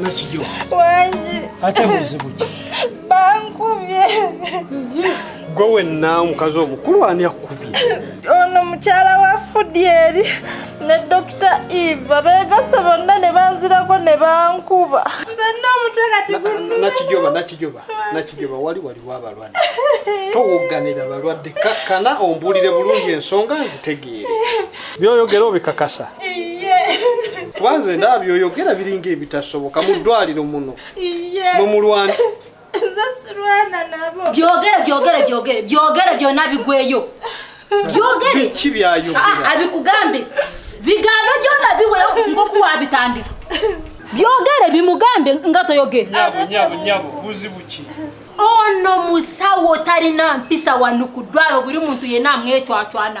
nakijo wangi ate buzibu ki bankubye gwe wenna omukazi omukulu ani akkubye ono mukyala wa fudyeri ne dokita eva begase bonna ne banzirako ne bankuba nzenna omutwe kati nakijoba nakijoba nakijoba wali waliwo abalwadde towogganira balwadde kakkana ombuulire bulungi ensonga nzitegeere byoyogera obikakasa kubanze ndaba byoyogera biringa ebitasoboka mu ddwaliro muno nomulwana byogere byogere byogere byogere byona bigweyo byogere ki byayogera ah, abikugambe bigambe byona biweyo ngokuwabitandika byogere bimugambe nga toyogere nyabo nyabo nyabo buzibu ki ono musawo talina mpisa wano ku ddwalo buli muntu yena amwecwacwana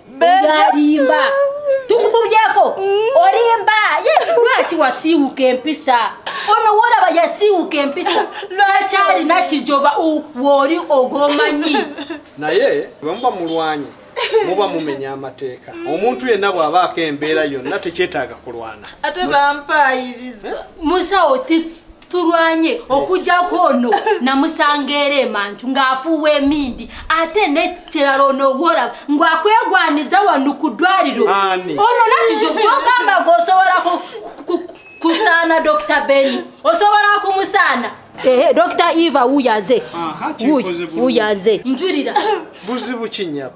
olimba tukukubyeko olimba ye lwaki wasiiwuka empisa ono wolaba yasiiwuka empisa lwakyalina kijoba wooli ogomanyi naye wemuba mulwanyi muba mumenya amateeka omuntu yenna bw'abaako embeera yonna tekyetaaga kulwana ate bampaayiriza musawo tulwanye okujjako ono namusanga era emantu ng'afuuwa emindi ate nekirala onowola ng'akwegwaniza wano ku ddwaliro ono nakijo kyogamba g'osobola kusaana dr beni osobola kumusaana ehe dr eva wuyaze wuyaze njulira buzibu kinyabo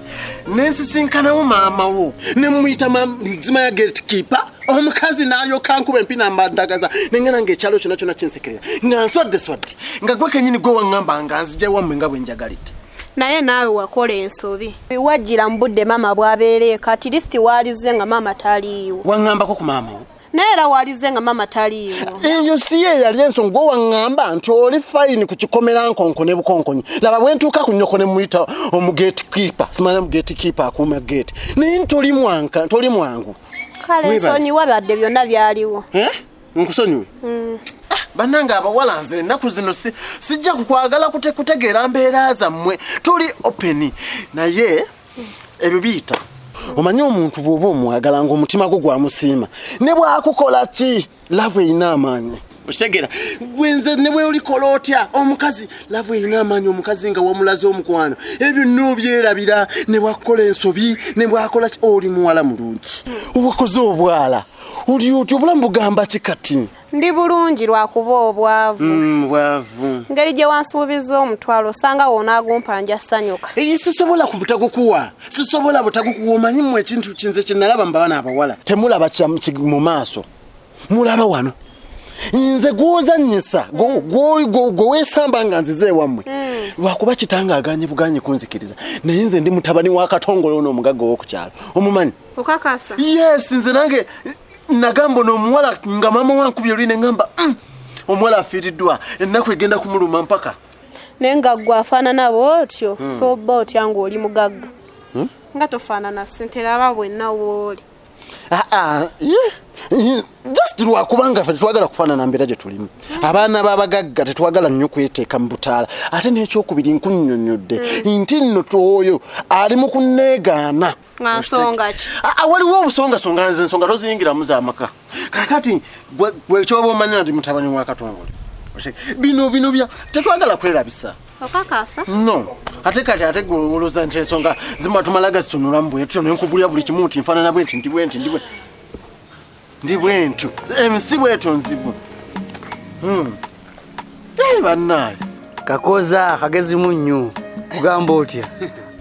nensisinkanawo maama wo nemumuyita mzima ya gate keeper omukazi nayoka nkuba empi nambandagaza nengena nga ekyalo kyona kyona kinsekerera nga nswadde swadde nga gwe kenyini gwe waŋŋamba nga nzija wammwe nga bwe njagalidde naye naawe wakola ensobi wajjira mu budde maama bwabeereeko atirisiti waalizze nga maama taliiwo waŋŋambako ku maama wo naye era walize nga maama taliiwo eyo si ye yali ensonga owaŋŋamba nti oli fayini ku kikomera nkonko ne bukonkonyi laba bwe ntuuka ku nnyoko ne muyita omugeeti kiipa simanya mugeeti kiipa akuuma geeti naye ntoli mwanka ntoli mwangu kale nsonyiwa badde byonna byaliwo eh? nkusonyiwe mm. ah, banange abawala nze ennaku zino sijja kukwagala kutegeera mbeera zammwe tuli openi naye ebyo biyita omanyi omuntu bwoba omwagala nga omutima gwo gwamusiima ne bwakukola ki laavu erina amaanyi okitegera gwenze ne bweolikola otya omukazi laavu erina amaanyi omukazi nga wamulaze omukwano ebyo noobyerabira ne bwakukola ensobi ne bwakola ki oli muwala mulungi owakoze obwala oli otya obulamu bugamba ki kati ndi bulungi lwakuba obwavu mm, bwavu ngeri gye wansuubiza omutwalo osanga wona agumpa nja sanyuka eyi sisobola ku butagukuwa sisobola butagukuwa omanyi mu ekintu kinze kyenalaba mubabana abawala temulaba mu maaso mulaba wano nze gwozanyisa gwewesamba nga nzize ewammwe mm. lwakuba kitanga aganye buganye kunzikiriza naye nze ndi mutabani wa katongole ono omugagga owokukyalo omumanyi yes nze nange nagamba ono omuwala nga maama wankubye olwi ne ngamba mm, omuwala afiiriddwa ennaku egenda kumuluma mpaka naye nga gwe afaanana bwotyo hmm. so oba otya ngaoli mugagga hmm? nga tofaanana sente laba bwenna wooli ah, ah, just lwakubanga fe tetwagala kufaanana mbeera gye tulimu hmm. abaana b'abagagga tetwagala nnyo kweteeka mu butaala ate n'ekyokubiri nkunyonyodde nti nno twoyo ali mu kunneegaana nga nsonga ki ah, ah, waliwo obusongasonga nze ensonga toziyingiramu zamaka kakati gwekyoba omanya nti mutabani wa katongole bino bino bya tetwagala kwerabisa okakasa no ate kati ate gwewoloza nti ensonga zimatumalaga zitunulamu bwetyo nenkubulya buli kimu nti nfanana bwenti ndi bwenti ndi bwenti ndi bwentyo ensi bwetyo nzibu hmm. eh, bannaayo kakoza kagezi munnyu kugamba otya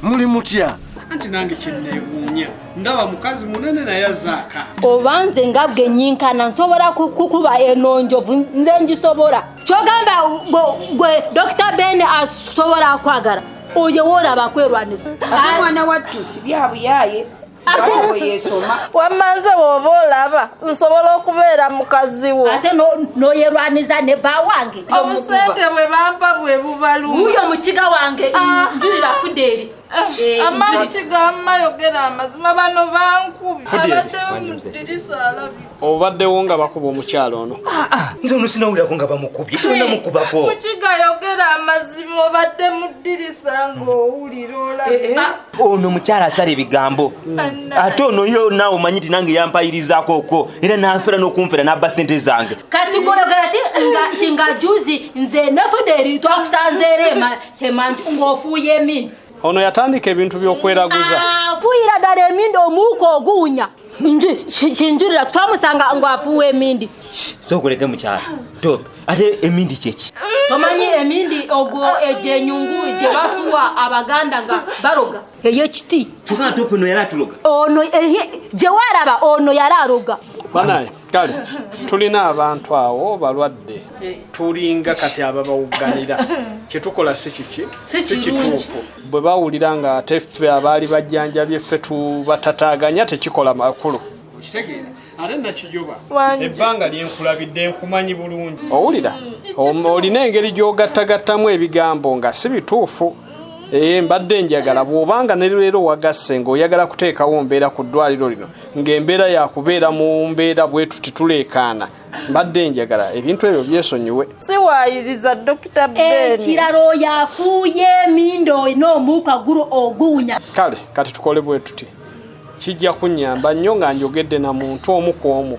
muli mutya anti nange kyeneewuunya ndaba mukazi munene naye azaaka oba nze nga bwe nyinkana nsobola kukuba eno njovu nze ngisobola kyogamba gwe dokita ben asobola kwagala oyo woolaba kwerwanisa mwana wattu si byabuyaye wamanze woba olaba nsobola okubeera mukazi wo ate noyerwaniza ne ba wange obusente bwe bampa bwe bubaluuyo mukiga wange ah. njulira fudeeri Eh, amani kigamba yogera amazima bano bankubi abadde mudirisa alabi obaddewo nga bakuba omukyalo ono ah, ah, nze ono sinawulirako nga bamukubye tona mukubako mukiga yogera amazima obadde muddirisa ngaowulira olabi eh, eh. ah. ono mukyalo asala ebigambo ate ono yo naawe omanyi ti nange yampayirizaako okwo era nanfera n'okunfera n'abba sente zange kati goyogera ki nga juzi nze nefuderi twakusanzeera emanju ng'ofuuye emini ono yatandika ebintu byokweraguza afuuyira ddala emindi omuuka oguwunya kinjulira twamusanga nga afuuwa emindi sokuleke mukyala top ate emindi kyeki tomanyi emindi ogwo egyenyungu gyebafuwa abaganda nga baroga eyo kiti kyokana top ono yali atuloga ono gyewalaba ono yali aroga banaye kale tulina abantu awo balwadde eh. tulinga kati ababawugganira kyetukola si kiki si kituufu bwe bawulira nga ate ffe abaali bajjanjabye ffe tubatataganya tekikola makulu ate nakijoba ebbanga lyenkulabidde nkumanyi bulungi owulira mm, olina engeri gyogattagattamu ebigambo nga si bituufu ee eh, mbadde njagala bw'obanga ne leero wagasse ng'oyagala kuteekawo mbeera ku ddwaliro lino ng'embeera yakubeera mu mbeera bwetu tituleekaana mbadde enjagala ebintu ebyo byesonyiwe siwayiriza dokita benikirala eh, oyo afuuye emindo olina omuuka gulu oguwunya kale kati tukole bwetuti kijja kunyamba nnyo nga njogedde na muntu omu ku omu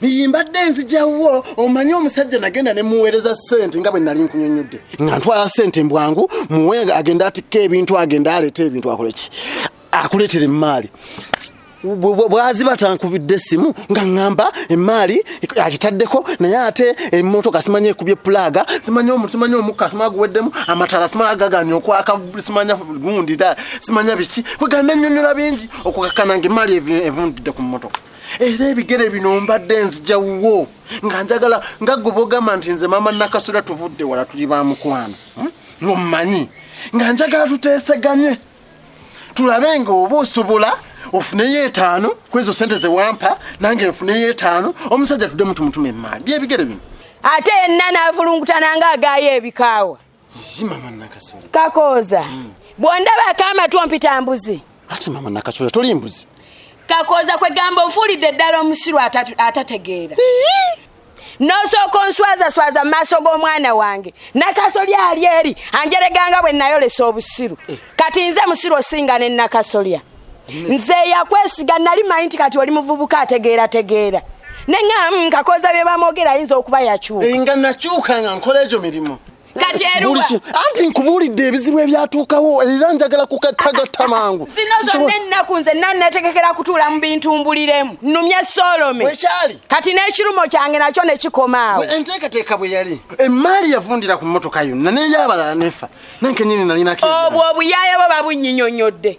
niyimbadde nzijawo omanyi omusajja nagenda ne muweereza ssente nga bwe nali nkunyonnyodde nga ntwala ssente mbwangu muwe agenda atikka ebintu agenda aleeta ebintu akoleki akuleetera emmaali bwazi batankubidde essimu nga ŋŋamba emmaali agitaddeko naye ate emmotoka simanya ekubye pulaaga simanya simanya omukka sima guweddemu amatala sima agaganya okwaka simanya gundi simanya biki kwegana nnyonnyola bingi okukakana nga emmaali evundidde ku mmotoka era ebigere bino mbadde nzija wuwo nga njagala nga gwe bogamba nti nze maama nakasula tuvudde wala tuli ba mukwano hmm? ngommanyi nga njagala tuteeseganye tulabe nga oba osobola ofuneyo etaano kwezo sente zewampa nange nfuneyo etaano omusajja tudemu tumutume emaali byebigere bino ate yenna navulungutananga agaayo ebikaawa kakooza hmm. bwondabaako amatu ompita mbuzi ate mama nakasooza toli mbuzi kakooza kwegamba onfuulidde ddala omusiru atategeera nosooka onswazaswaza mu maaso g'omwana wange nakasolya ali eri anjereganga bwe nayolesa obusiru eh. kati nze musiru osinga ne nakasolya nze yakwesiga nali manyi nti kati oli muvubuka ategeera tegeera nengamba mm, kakoza bye bamwogera ayinza okuba yakyuka eh, nga nakyuka nga nkola egyo mirimu kati eruwa anti nkubuulidde ebizibu ebyatuukawo era njagala kukatagatta mangu zino zonna ennaku nze nannategekera kutuula mu bintu mbuliremu nnumye solome wekyali kati n'ekirumo kyange nakyo ne kikomaawo enteekateeka bwe yali emmaali yavundira ku mmotoka yonna neyabalala nefa nankenyini nalinako obwo obuyaaye bwo babunyinyonyodde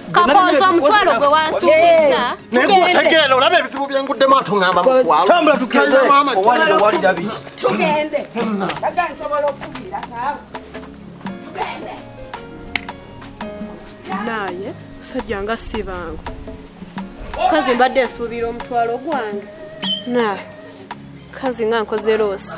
kakooza omutwalo gwe wansuubiza naye gutegeera olaba ebizibu byenguddemu atungamba mutwalotambula tugendetugende aga nsobola okukubira naawe tugende naye musajja nga si bangu kazi mbadde nsuubira omutwalo gwange na kazi nga nkoze loosi